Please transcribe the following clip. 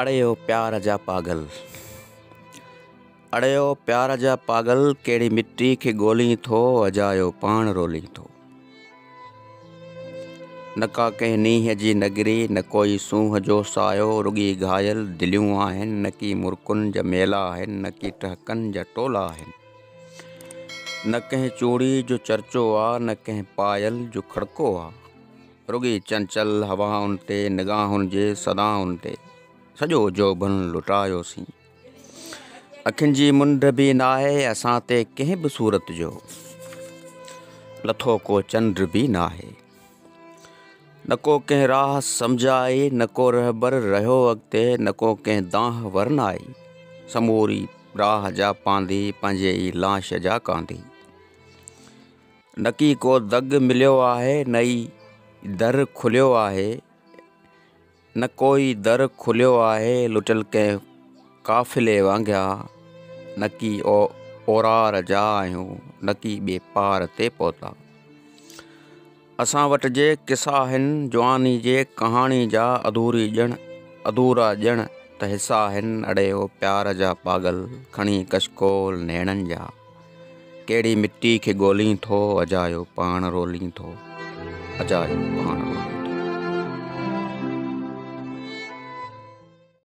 اڙي او پيار جا پاڳل. اڙي او پيار جا پاڳل ڪهڙي مٽي کي ڳولين ٿو اجايو پاڻ رولين ٿو نه ڪا ڪنهن نينهن جي نگري نه ڪوئي سونهن جو سايو رڳي گهايل دليون آهن نه ڪي مرڪن جا ميلا آهن نه ڪي ٽهڪن جا ٽولا آهن نه ڪنهن چوڙي جو چرچو آ نه ڪنهن پايل جو کڙڪو آ. رڳي چنچل هوائن تي نگاهن جي صدائن تي سڄو جوڀن لٽايوسين اکين جي منڍ به ناهي اسان تي ڪنهن به صورت جو لٿو ڪو چنڊ به ناهي نه ڪو ڪنهن راهه سمجھ آئي نه ڪو رهبر رهيو اڳتي نه ڪو ڪنهن دانهه ورن آئي سموري راهه جا پانڌي پنهنجي ئي لاش جا ڪانڌي نڪي ڪو دڳ مليو آهي نه ئي در کليو آهي نه ڪو ئي در کليو آهي لٽل ڪنهن قافلي وانگيا نڪي او اورار جا آهيون نڪي ٻي پار تي پهتا اسان وٽ جي قصا آهن جواني جي ڪهاڻي جا اڌوري ڄڻ اڌورا ڄڻ ته حصا آهن اڙي او پيار جا پاڳل کڻي ڪشڪول نيڻن جا ڪهڙي مٽي کي ڳولين ٿو اجايو پاڻ رولين ٿو اجايو پاڻ رولين ٿو.